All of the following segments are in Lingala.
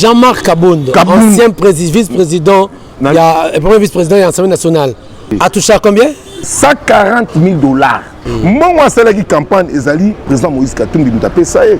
Jean-Marc Kabund, Kabund, ancien vice-président, eh, premier vice-président de l'Assemblée nationale, a touché à combien 140 000 dollars. Mbongo mm. asalaki campagne ezali président Moïse Katumbi moto apesa ye.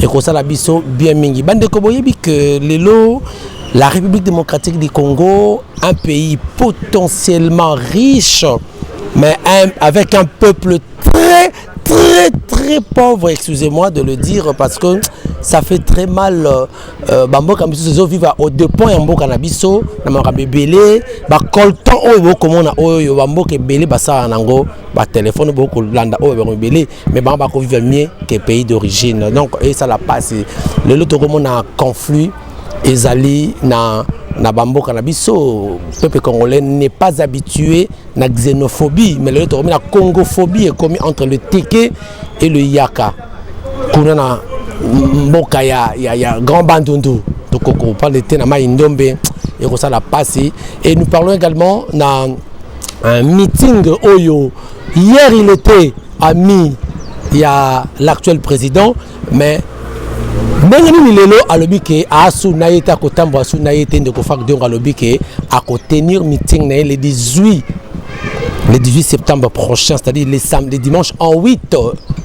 ekosala biso bien mingi bandeko boyebi ke lelo la république démocratique du congo un pays potentiellement riche mais un, avec un peuple très très très pauvre excusez-moi de le dire parce que ça fait très mal euh, euh bamboka misusu ezovivre au depend ya mboka na biso na makambo ebele bacoltan oyo bokomona oyo bamboka ebele basalaka nango batelefone bokolanda oyo bango ebele mais bango bakovivre mieux que pays d'origine donc esala mpasi lelo tokomona conflit ezali na na bamboka na biso peuple congolais n'est pas habitué na xénophobie mais lelo tokomi na congophobie ekomi entre le teke et le yaka kuna na mboka ya, ya, ya grand bandundu tokokopale te na mai ndombe ekosala mpasi et nous parlons également na un meeting oyo Hier il était ami ya l'actuel président mais ndenge nini lelo alobi ke asu na ye te akotambola su na ye te ndeko fak diongo alobi ke akotenir meeting na ye le 18 le 18 septembre prochain c'est-à-dire le, le dimanche en 8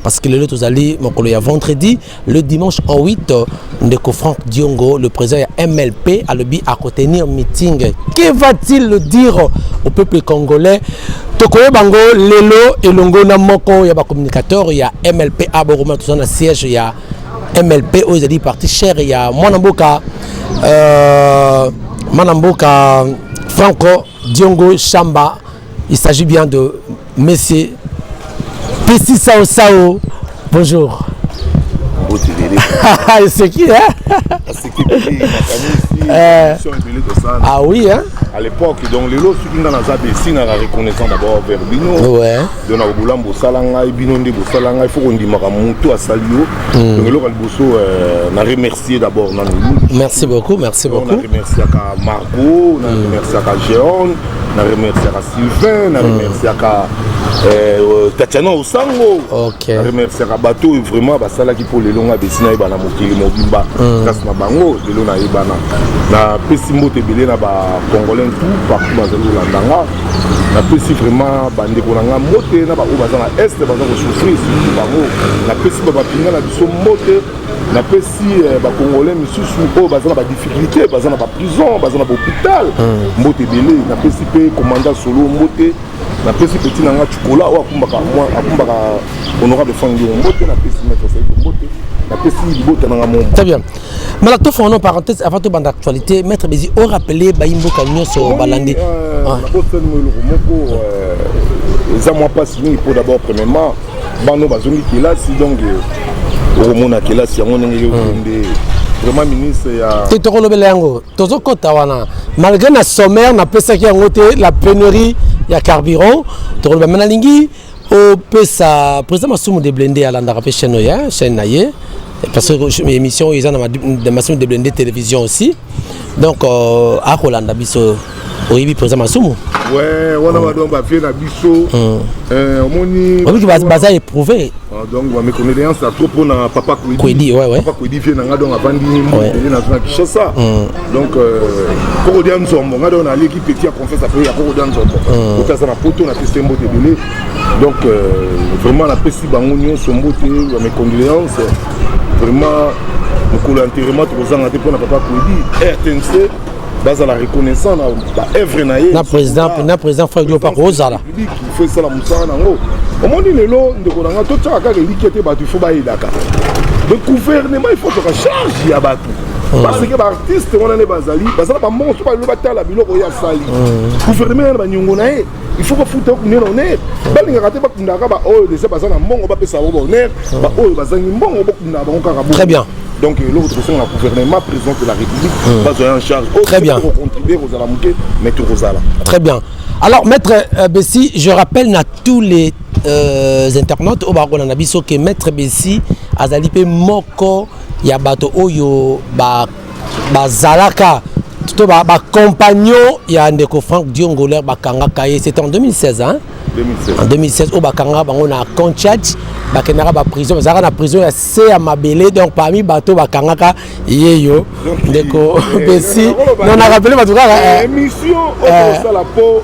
parce que lelo tozali mokolo ya vendredi Le dimanche 8, Ndeko Franck Diongo, le président ya MLP, alobi à tenir meeting. Que va-t-il dire au peuple congolais tokoye bango lelo elongo na moko ya bacommunicateur ya mlp a bokoma toza na siège ya mlp oyo ezali parti chere ya mwana mboka euh, mwana mboka franco diongo shamba Il s'agit bien de Monsieur Tessi Sao Sao. Bonjour. c'est qui hein euh, Ah oui hein à l'époque donc lelo soki nga naza de esingaka reconnaissant d'abord vers bino de na kobola bosala ngai bino nde bosala ngai fo kondimaka motu asali yo hmm. donc eloko ya liboso euh, na remercier d'abord nanu merci beaucoup merci beaucoup na remerciaka marco na hmm. remerciaka geone na remerciaka sylvain na remerciaka hmm. eh, euh, tatiana osango na remerciaka bato oyo vraiment basalaki mpo lelo ngai besi nayeba na mokili mobimba hmm. kasi na bango lelo nayebana napesi mbote ebele na bacongolais tout partout bazali kolanda nga napesi vraiment bandeko na ngai mbote na baoyo baza na este baza kosouffrir surtout bango napesi babapinga na biso mbote napesi eh, bacongolais misusu oyo baza na badifficulté baza na baprison baza na bahôpital hmm. mbote ebele napesi mpe commanda solo mbote napesi peti na nga cikola oyo akumbaka akumbaka honorable fangio mbote napesi maître saiko mbote napesi libota na nga momo très bien mala tofona no parenthèse avant tobanda actualité maître bezi o rappele bayi mboka nyonso balandi euh, ah. nabosani mo eloko moko euh, eza mwa mpasi mingi mpo d'abord premièrement bana oyo bazongi kelasi donc euh, okomona kelasi yango ndenge yokende hmm. vraiment ministre ya te tokolobela yango tozokɔta wana malgré na sommaire napesaki yango te la pénurie ya carburant tokoloba me nalingi opesa président masumu de blende alandaka mpe chaîne oyo chaîne na ye parce que émission oyo eza na masumu de blende télévision aussi donc euh, akolanda biso oyebi mpenza masumu wana mm. badon bavie na biso mm. eh, omoni oyoki baza éprouve ah, donc baméconnaissance ya trop mpona papa kwedi papa kwedi vie na ngai donc avandi mbele nazo na kinshasa mm. donc euh, kokodia nzombo ngai donc naleki petit ya confiance apres ya kokodia nzombo oki aza na poto napesi mbote ebele donc euh, vraiment napesi bango nyonso mbote bamécondoléance vraiment mokolo ya nterema tokozanga te mpona papa kwedi rtnc bazala reconnaissant na baevre na ye na président na président frank diop akozala fo esala mosala nango omoni lelo ndeko na ngai totyaka kaka elikya te bato ifo bayedaka le gouvernement ifo toka charge ya bato hmm. parce que baartiste wana nde bazali bazala bamonso balelo batala biloko ye asali hmm. gouvernement yana baniongo na ye il faut bafuta yo kunde na honneur balingaka te bakundaka baoyo deja baza na mbongo bapesa bango bahonneur baoyo bazangi mbongo bokundaka bango kaka très bien donc eloko tokosenga na gouvernement président de la république hmm. bazwa ya en charge oh, très bien tokocontribue kozala moke mais tokozala très bien alors maître euh, bessi je rappelle na tous les euh, internautes oyo bakona na biso ke maître bessi azali mpe moko ya bato oyo ba bazalaka to ba, ba compagnon ya ndeko Franck Diongolaire bakangaka ye c'était en 2016 hein 2016. en 2016 oyo bakangaka bango na Conchat bakendaka ba prison bazalaka na prison ya se ya mabele donc parmi bato bakangaka ye yo ndeko besi non na rappele bato kaka émission oyo osala po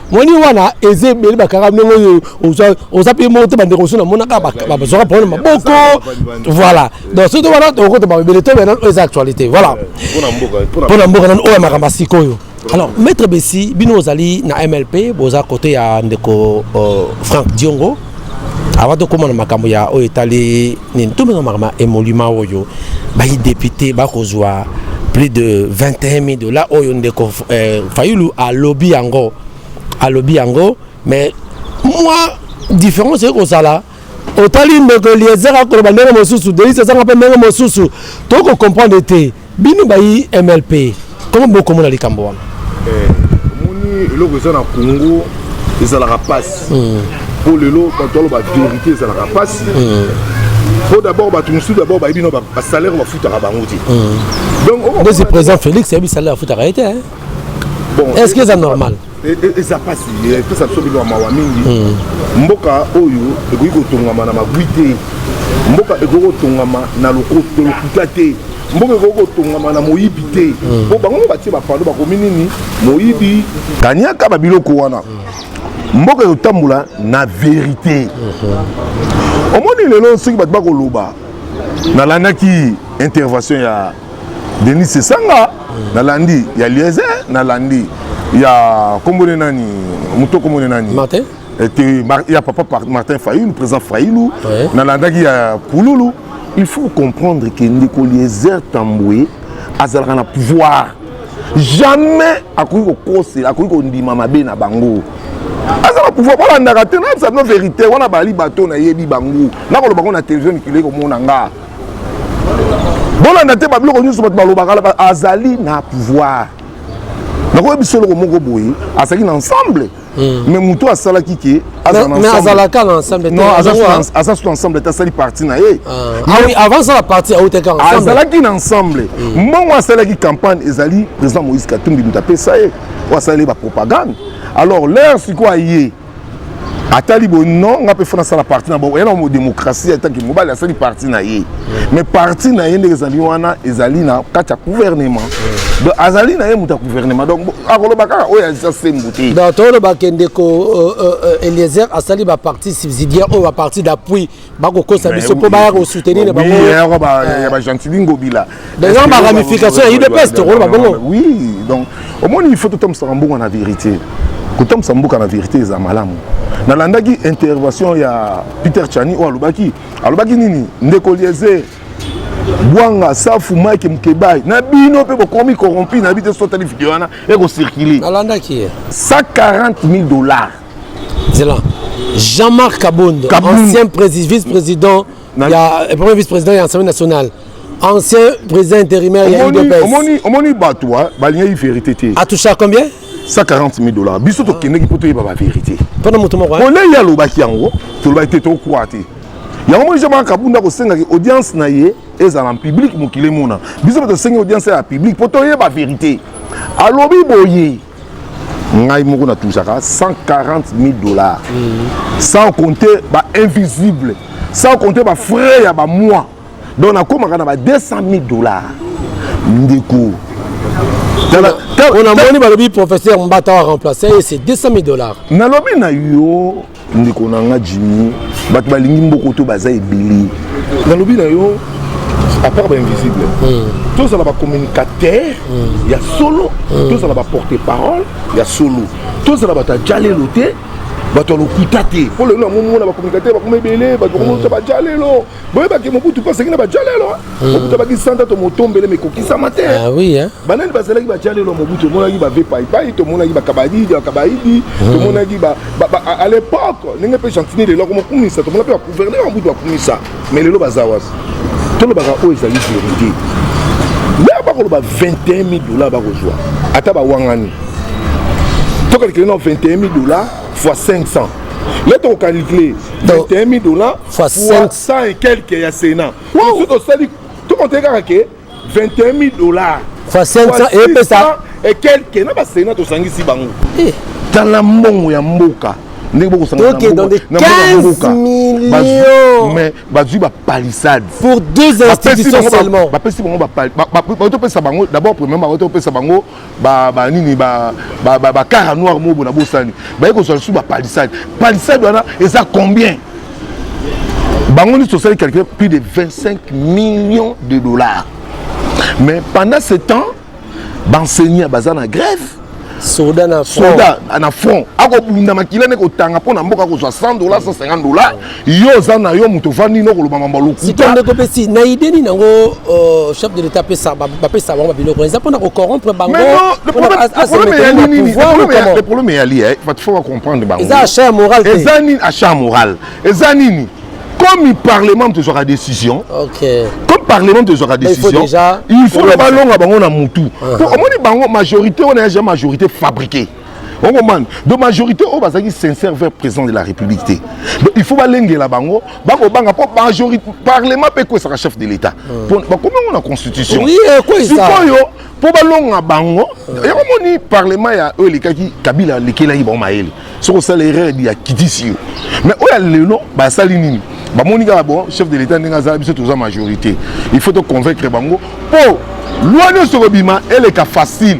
moni wana eza ebele bakanga ndenge oyo oza mpe moko te bandeko mosusu namonaka bazwaka problème maboko voilà donc soki wana tokokota baebele to bena eza actualité voilà mpo na mboka nano oyo ya makambo ya sikoyo alors maître besi bino ozali na mlp boza kote ya ndeko euh, frank diongo avant tokóma na makambo ya oyo etali Tout le monde m'a émolument oyo, bah député, bah kozwa plus de 21 000 dollars oyo ndeko euh, Fayulu à lobby yango, à lobby yango, mais moi différence c'est que ça là. otali ndeko eliezer akoloba ndenge mosusu delis ezanga mpe ndenge mosusu tokokomprendre te Bino bayi MLP comment bokomona likambo wana? Eh, omoni eloko eza na Congo ezalaka mpasi hmm. mpo lelo bato aloba verité ezalaka mpasi mpo hmm. d'abord bato mosusu d'abord bayebi no basalaire bafutaka bango te hmm. donc oh, oh, oh. président félix ayebi salaire afutaka ye te bon est ce que eza normal E, e, eza mpasi epesa biso bino ya mawa mingi hmm. mboka oyo ekoki kotongama na magwi te mboka ekoki kotongama na lokuta te mboka ekoki kotongama na moyibi te hmm. mpo bango batie bapando bakomi nini moyibi kaniaka babiloko wana hmm. mboka ekotambola na verite omoni lelo soki bato bakoloba nalandaki intervention ya Denis Sesanga nalandi ya Liese nalandi ya kombo ne nani moto kombo ne nani Martin ete ya papa Martin Fayulu président Fayulu ouais. nalandaki ya Kululu il faut comprendre que ndeko Eliezer Tambwe azalaka na pouvoir jamais akoki kokosela akoki kondima mabe na bango aza na pouvoir balandaka te nayebisa bino verité wana bali bato nayebi bango nakoloba ngo na televizio mikili komona nga bolanda te babiloko nyonso bato balobaka azali na pouvoir nakoyebi biso eloko moko boye azalaki na ensemble hmm. mais moto asalaki ke azalaka na ensembleaza sutu ensemble te asali parti na ye azalaki na ensemble hmm. mbongo asalaki campagne ezali président moïse katumbi moto apesa ye oyo asaleli bapropagande alors lere sikoyo aye atali boye non nga mpe fona asala parti na bango yana mo démocratie ataki mobali asali parti na ye mais parti na ye ndenge ezali wana ezali na kati ya gouvernement donc azali na ye moto ya gouvernement donc akoloba kaka oyo aza sembo te donc tolobake ndeko euh, euh, euh, eliezer asali baparti subsidiaire oyo baparti d'appui bakokosa biso mpo baya kosoutenir bango ya bagentili ngobila eza ba ramification ya udps tokoloba bongo oui donc omoni il faut totambusaka mbongo na verité kotambwisa mboka na verité eza malamu nalandaki intervention ya peter chani oyo alobaki alobaki nini ndeko liese bwanga safu mike mukebai na bino mpe bokomi corrompi na bi te sotali video wana ekocircule 140 000 dollars zela jean-marc kabondo ancien vice-président ya eh, premier vice-président ya assemblée nationale ancien président intérimaire ya udpsomoni bato balingaki vérité te atoucha combien 140 000 dollars biso tokendeki mpo toyeba bavérité mpona moto moko olei alobaki yango tolobaki te tokwa te yango moni jamaka kabunda kosengaki audience na ye ezala na publike mokili emona biso mpe tosengi audience ya publike mpo toyeba vérité alobi boye ngai moko na touchaka 140 000 dollars mm. sans compter ba invisible sans compter ba frais ya ba mois donc nakomaka na ba 200 000 dollars ndeko on a moni balobi professeur mbata wa remplacer ye c'est 200 000 dollars nalobi na yo ndeko na nga jimi bato balingi mbokoto baza ebele nalobi na yo apart bainvisible hmm. tozala bacommunicateur hmm. ya solo hmm. tozala baporte parole ya solo tozala bato ya jalelo te bato ya lokuta te mpo lelo yango omona bacommunicateur bakoma ebele bato bakomona bajale lelo boyebaki mobutu mpe asengi na bajalelo hmm. mobutu abaki santa to motombele mekokisama te ah eh. banani bazalaki bajalelo ya mobutu omonaki bave paipai tomonaki bakabaidi bakabaidi hmm. tomonaki à l'époque ndenge mpe gentini lelo akomokumisa tomona mpe bagouverneur ya mobutu bakumisa mais lelo baza wapi tolobaka oyo ezali verité lea bakoloba 21 000 dollars bakozwa ata bawangani tokalikele na 21 000 dollars fois 500 le tokokalikile 21 000 dollars fois 100 et quelques ya Sénat. Wow. Tout ça dit, tout compte kaka que 21 000 dollars. Fois 500 et puis ça et quelques na ba Sénat to sangisi bango. Eh, dans la mbongo ya mboka. ndenge bokosangana mais bazwi bapalissade pour deux institutions seulement bapesi bango bautopesa bango d'abord premièrement bautopesa bango ba ba nini ba ba ba, ba cara noir mobo na bosani baye kozwa lisusu ba palissade palissade wana eza combien bango nisi tosali calcule plus de 25 millions de dollars mais pendant ce temps baenseignant baza na grève soda na front akobunda makila nde kotanga mpo na mboka akozwa 100 dollars 150 dollars yo oza na yo moto ovandi no koloba mambo lokuta ndeko pesi na idée nini yango euh, chef de l'état apesa bapesa bango babiloko eza mpona kocorrompre bangoproblème problème eyali bato fo bacomprendre bango eza achat ya moral te eza nini achat ya moral eza nini comme parlement moto ezwaka décision okay. comme parlement moto ezwaka décision il faut na balonga bango na motu po uh-huh. omoni bango majorité wana ya ja majorité fabriquée on comprend donc majorité oyo bazalaki sincère vers président de la république te donc il faut balengela bango bakobanga mpo majorité parlement mpe ekwesaka chef de l'état hmm. bakomi yango na constitution sikoyo mpo balonga bango hmm. yango moni parlement ya oyo elekaki kabila alekelaki bango mayele soki osala erreur ya kitisi yo mais oyo ya lelo basali nini bamoni kaka bon chef de l'état ndenge azala biso toza majorité il faut toconvaincre bango mpo loi nyonso kobima eleka facile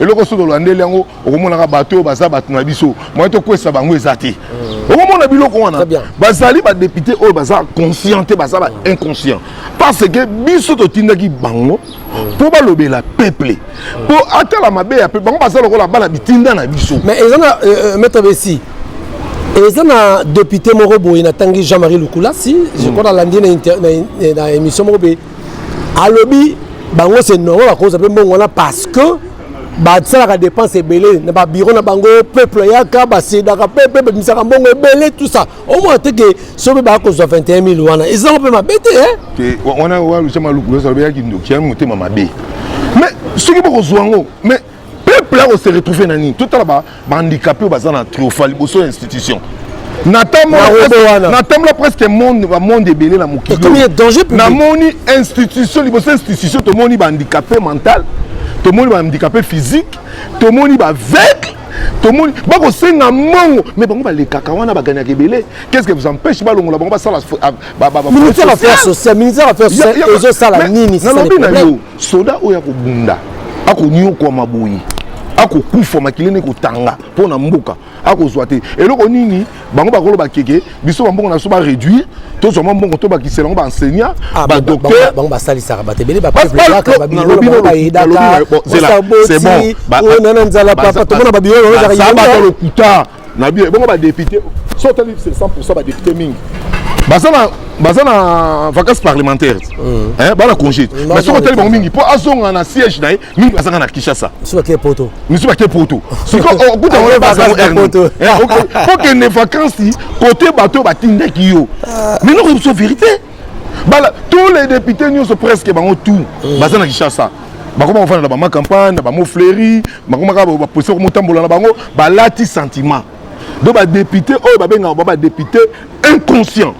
eloko soki olandeli yango okomonaka bato oyo baza bato na biso moye tokwesa bango eza te mm. okomona biloko wana bazali badepute oyo baza conscient te baza ba mm. inconscient parce que biso totindaki bango mpo mm. balobela peuple mpo atala mabe ya peuple bango baza lokola bana bitinda na biso mais eza na euh, euh, maître besi eza na depute moko boye natangi jean marie lukulasi je crois nalandi na émission moko boye alobi bango c'est normal bakoza mpe mbongo wana parce que basalaka dépense ebele na babiro na bango peuple ayaka basedaka mpe mpe babimisaka mbongo ebele tout ça omona te ke so mpe baya kozwa 21 000 wana ezango mpe mabe te eh? wana walusa maluku losa lobeyaki ndoki yango motema mabe mais soki bokozwa yango mais peuple ako se retrouver na nini totala ba handicapé oyo baza na triofa liboso ya institution natambola presque monde bamonde ebele na mokili namoni institution liboso institution tomoni bahandicapé mental tomoni bahandicapé physique tomoni baveugle tomoni bakosenga mongo mais bango balekaka wana baganaka ebele qu'est-ce que vous empêche balongola bango basala ah, ministère affaire sociale ministère affaire sociale ezosala nini nalobi na yo Soda oyo akobunda akonyokwama boye akokufa makila ene kotanga mpo na mboka akozwa te eloko nini bango bakoloba keke biso bambongo na biso baréduire tozwa mwa mbongo tobakisela yango baenseignant ah, badocteur bango basalisaka bato ebele bapeblelakababilolokuta na bien bongo ba député so tali 100% ba député mingi baza na baza na vacances parlementaires mm. hein bana congé mm, mais soki otali bango mingi mpo azonga na siège na ye mingi bazanga na kinshasa misusu bake poto misusu bake poto siko okuta yango evacances po kende vacances kote bato oyo batindaki yo ah. mais noko biso vérité bala tous les députés nyonso presque bango tout mm. baza na kinshasa bakoma kofanda na bama campagne na bamo fleuri bakoma kaka baposa komotambola na bango balati sentiment donc badepute oyo babengaka ba badepute inconscient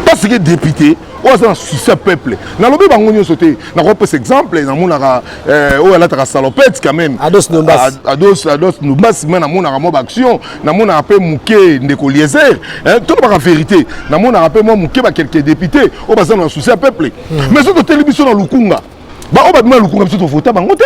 parce que député oyo aza na souci ya peuple nalobi bango nyonso te nakopesa exemple namonaka eh, oyo alataka salopete quand même ados ndombasi me namonaka mwa baaction namonaka mpe moke ndeko liezer tolobaka verité namonaka mpe mwa moke bakelke député oyo baza na souci ya peuple hmm. mais soki toteli biso na lukunga baoyo babima na lukunga biso tovota bango te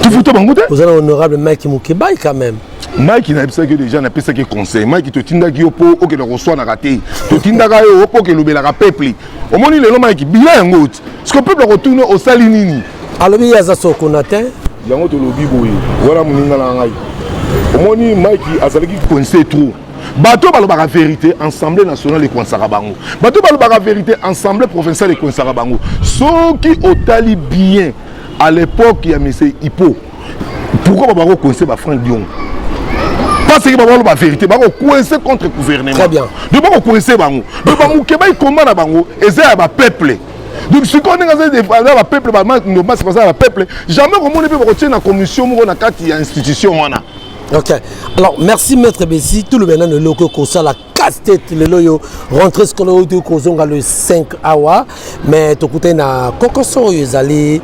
tovota bango te oza na honorable mike mokebai quand même mike nayebisaki yo deja napesaki conseil mike totindaki yo mpo okenda koswanaka te totindaka yo mpo okelobelaka peuple omoni lelo mike bila yango ti siko peuple akotuna osali nini alobi ye aza sokona te yango tolobi boye wana moninga na ngai omoni mike azalaki coince trop bato balobaka verité ensemble national ekoinsaka bango bato balobaka verité ensemble provincial ekoinsaka bango soki otali bien à l'époque ya monsieur hippo pourquoi baba kokoinse bafranc diongo baseki bango baloba verité bakokoinse contre gouvernement donc bakokoinse bango donc bamoke baikoma na bango eza ya bapeuple donc sikoyo ndenge aza defanda ba peuple bamando basi baza ba peuple jamais komoni mpe bakotie na commission moko na kati ya institution wana ok alors merci maître besi toloba nano eloko ekosala casse tete lelo oyo rentre scolaire oyo toki kozonga le 5 awa mais tokutani na kokoso oyo ezali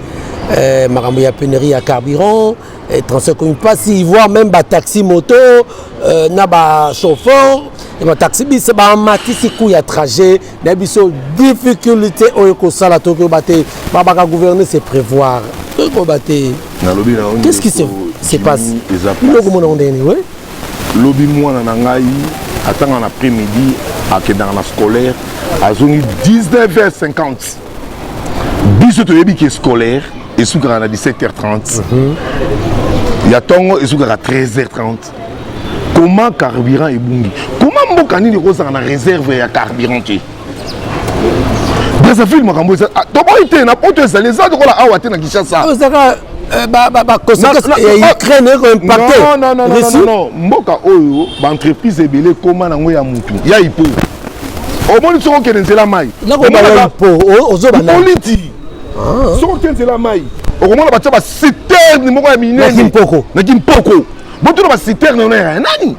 eh, makambo ya penerie ya carburant eh, transfert ekomi mpasi voire même bataxi moto euh, na bachauffeur ya bataxi bise bamatisi coût ya trajet na biso difficulté oyo ekosala toki oba te babaka gouverner se prévoir toki koba te nalobi na qu'est-ce qui se, se passe biloko mona ngo ndenge nini oui lobi mwana na ngai atanga na après midi akendaka na scolaire azongi 19h50 biso toyebi ke scolaire esukaka na 17h30 mm -hmm. ya ntongo esukaka 13h30 comment carburant ebungi comment mboka nini ekozala na réserve ya carburant te brazzaville makambo eza ah, toboyi te na poto ezali eza lokola awa te na kinshasa euh, mboka oyo baentreprise ebele ekoma nango ya motu ya ipo omoni soki okende nzela mai oliti soki okende nzela mai okomona batya basiterne moko ya minene na kimpoko botuna ba citerne wana ya nani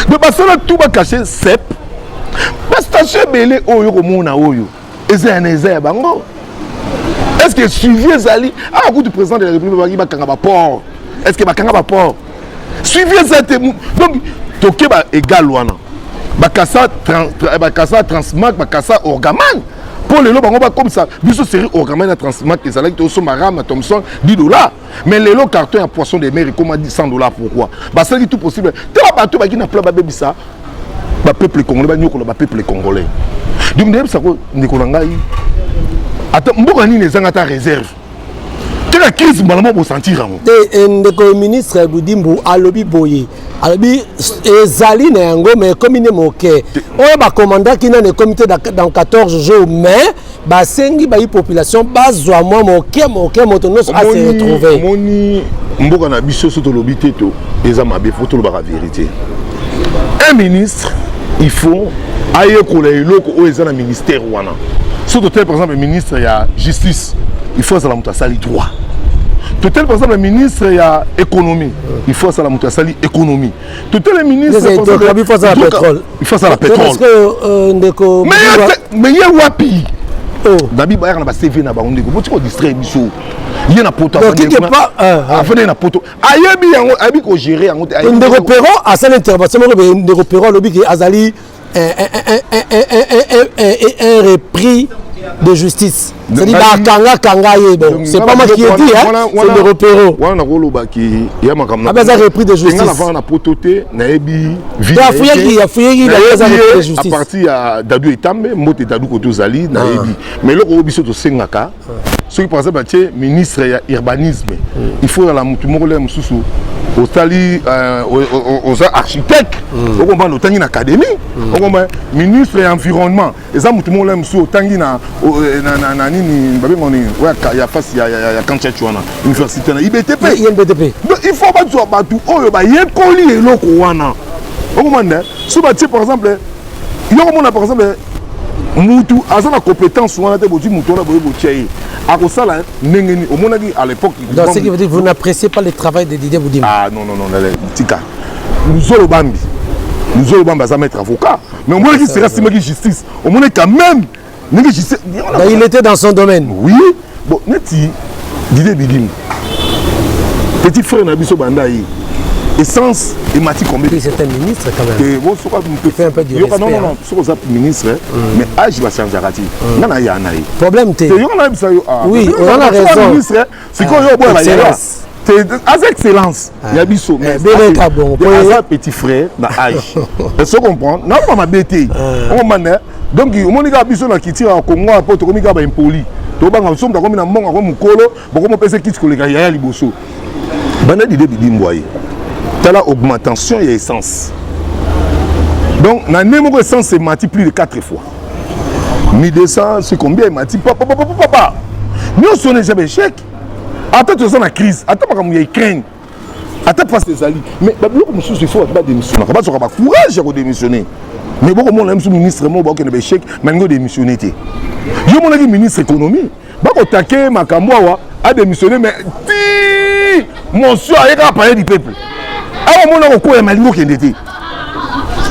de basala tu bakache sep bastation ebele oyo okomona oyo eza yana eza ya bango est ce que suivi ezali awa ah, kutu président de la république babaki bakanga baport est ce que bakanga baport suivi eza te donc tokeba egal wana bakasa bakasa transmark bakasa orgaman mpo lelo bango bakomisa biso série orgaman ya transmark ezalaki tosomba rama thomson 10 dollars mais lelo carton ya poisson de mer ekoma 100 dollars pourquoi basalaki tout possible te bato baki na pla babebisa bapeuple congolais banyokola bapeuple congolais donc ndeyebisa ko ndeko na ngai ata mboka nini ezanga ata réserve kaka crise mbala moko bosentir yango te eh, ndeko ya ministre budimbu alobi boye alobi ezali na yango mais ekomi nde moke oyo bakomandaki nani ekomi te dans 14 jours mais basengi bayi population bazwa mwa moke moke moto nyonso ase retrouve omoni mboka na biso so tolobi te to eza mabe fo tolobaka verité un ministre il faut ayekola eloko oyo eza na ministère wana so totali par exemple ministre ya justice il faut azala moto asali droit totali par exemple ministre ya économie il faut azala moto asali économie totele ministreifasala petrolmeye wapi dabi bayaka na bacv na bango ndeko botiki kodistraire biso ye na poto afandaki na poto ayebi yango ayebi kogere yango te ndeko pero asali intervention moko ndeko pero alobi ke azali un, un, un, un repris de justice cest bakanga kanga ye bon c'est pas moi qui ai dit hein c'est de repero wana nakoloba ki ya makambo abe aza repris de justice nafanga na poto te nayebi afuyaki afuyaki aza repris de justice à partir ya dadu etambe mbote dadu koto ozali nayebi mais eloko oyo biso tosengaka soki par exemple atie ministre ya urbanisme mm. il faut ozala motu moko lea mosusu osali euh, oza architecte mm. okomprendre otangi na académie mm. okomprendre ministre ya environnement eza motu moko lea mosusu otangi na euh, nini babengo nini ya fasi ya kanchach wana université na ibtp il faut bazwa bato oyo bayekoli eloko wana okomprendre so batie par exemple yo komona par exemple mutu aza na compétence wana te bozwi motu wana boye botya ye akosala ndenge nini omonaki à l'époque donc ce qui veut dire vous n'appréciez pas le travail de Didier Boudimba ah non non non tika luzolo bambi luzolo bambi aza maître avocat mais omonaki sera simaki justice omonaki quand même ndenge jise bah, il était dans son domaine oui bon neti dide bidimu petit frère na biso banda ye essence emati combien oui, c'est un ministre quand même et bon soka tu fais un peu du respect yoka non non non soka za ministre mm. mais âge ba changeaka ti mm. nga na ya na ye problème te yoka na bisa yo ah oui on a raison ministre sikoyo yo oboya bayaya aza excellence ah. ya biso eh, aza petit frère na age so comprendre naoma mabe te ah. omana donc omoni kaka biso na culture ya congo ya po tokomi kaka baimpoli tobanga mosumu takomi na mbongo ako mokolo bokomopesa kiti koleka yaya liboso banda dide bidimbwa ye tala augmentation ya essence donc na nde moko essence emati plus de 4 fois mi 200 c'est combien emati papa papa papa nyonso wana eza baechec ata toza na crise ata makambo ya ukraine ata mpasi ezali mais babiloko mosusu ifo bato badémissionnaka bazwaka bacourage ya kodémissionne mais bokomona biso ministre moko bakokende baechec balingi odémissionne te yo monaki ministre économie bako take makambo awa a démissionner mais ti monsieur aye kaka palais du peuple awa mona kokoya malingo kende te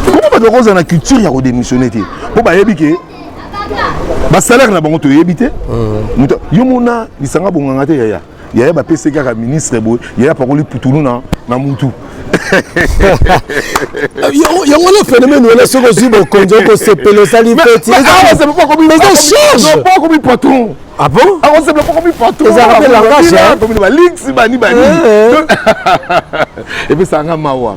koko bato bakozala na culture ya kodémissionner te mpo bayebi ke basalaire na bango toyebi te hmm. yo mona lisanga bonganga te yaya yaya bapesi kaka ministre boye yaya apakoli putulu na, na mutu yango na phénomène wana soki ozwi bokonzi okosepela osali feti akomi patron ah bon akosepela ah, pokomi patrozalaka mpe langage baliksi bani bani epesaka nga mawa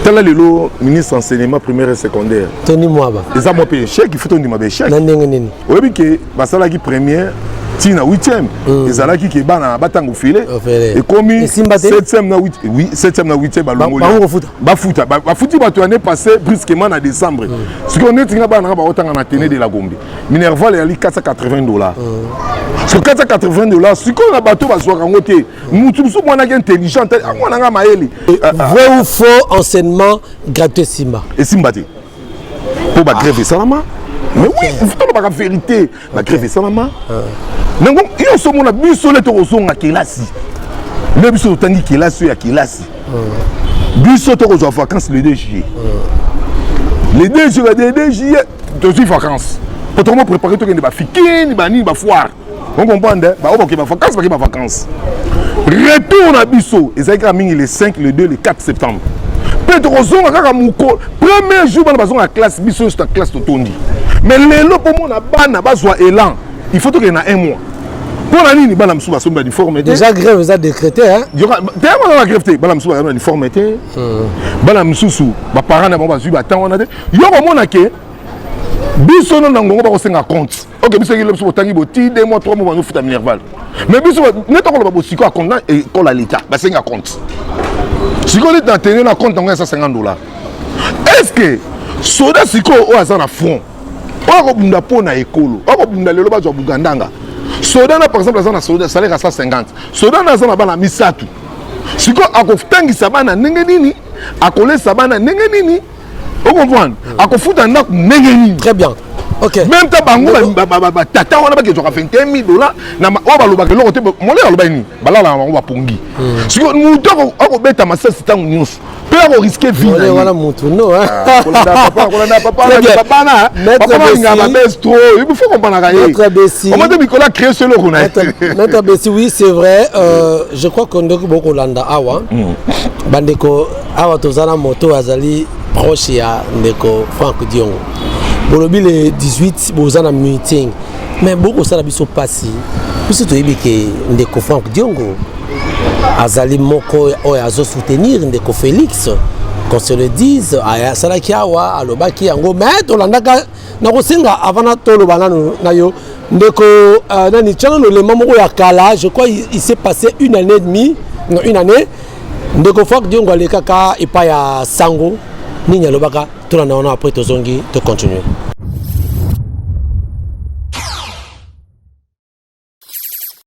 tala lelo ministre enseignement primaire et secondaire tony mwaba eza mwa mpe échec ifuta ondima ba échec na ndenge nini oyebi ke basalaki première ti na 8e mm. ezalaki ke bana batanga ofele ekomi 7e na 8 oui 7e na 8e balongoli bafuta bafuti bato année passée brusquement na décembre mm. sikoyo neti nga bana nga baotanga na tene de la gombe minerval eyali 480 dollars mm. sur 480 dollars sikoyo na bato bazwaka yango te motu mosusu mwanaki intelligent mwana nga mayele vrai ou faux enseignement gratuit esimba esimba te mpo bagreve esalama mais oui tolobaka vérité bagreve esalama nango nyonso omona biso nde tokozonga kelasi nde biso totangi kelasi oyo ya kelasi biso tokozwa vacance le 2 juillet le 2 juillet le 2 juillet tozwi vacance po tokoma prépare tokende bafikini banini bafoire On comprendre ba oboke ba vacances ba ke ba vacances. Retour na biso ezalaki kaka mingi le 5, le 2, le 4 septembre. Pe tokozonga kaka moko premier jour bana bazonga classe biso nyonso na classe totondi. Mais lelo mpo mona bana bazwa élan il faut tokende na un mois mpo na nini bana mosusu basombi baniforme te déjà grève eza décrété teyamana na grève te bana mosusu bazali baniforme te hmm. bana mosusu baparent na bango bazwi batemp wana te yo komona ke biso no na ngongo bakosenga compte ok biso ekilo biso botangi boti de mois trois mois bazofuta minerval mais biso neti akoloba bosiko akonta ekola leta basengi akonte sikoyo neti na tene na konte yango ya 150 dollar est ce que soda sikoyo oyo aza na front oyo akobunda mpo na ekolo oyo akobunda lelo bazwa bugandanga soda na par exemple aza na salaire ya 150 soda na aza na bana misato sikoyo akotangisa bana ndenge nini akolesa bana ndenge nini o comprendre hmm. akofuta ndako ndenge nini très bien Okay. Même ta bango ba ba ba ba tata wana ba kezoka 21000 dollars na oyo balobaka eloko te mole aloba nini balala na bango bapongi hmm. sikoyo moto akobeta masasi ntango nyonso mpe akoriske vie na ye wana motu no ah, kolanda papa kolanda papa papa na papa balingaka babese trop il faut kompanaka ye omate mikolo acree so eloko na ye maître besi oui c'est vrai euh, je crois que ndoki bokolanda awa hmm. bandeko awa toza na moto oyo azali proche ya ndeko frank diongo bolobi le 18 boza na meeting mais bokosala biso mpasi biso toyebi ke ndeko frank diongo azali moko oyo azosoutenir ndeko félix qu'on se le dise asalaki awa alobaki yango mais tolandaka nakosenga avana toloba nanu na yo ndeko euh, nani tiana lolema moko ya kala je crois il s'est passé une année et demie non une année ndeko frank diongo alekaka epai ya sango nini alobaka tuna na wana après tozongi to continuer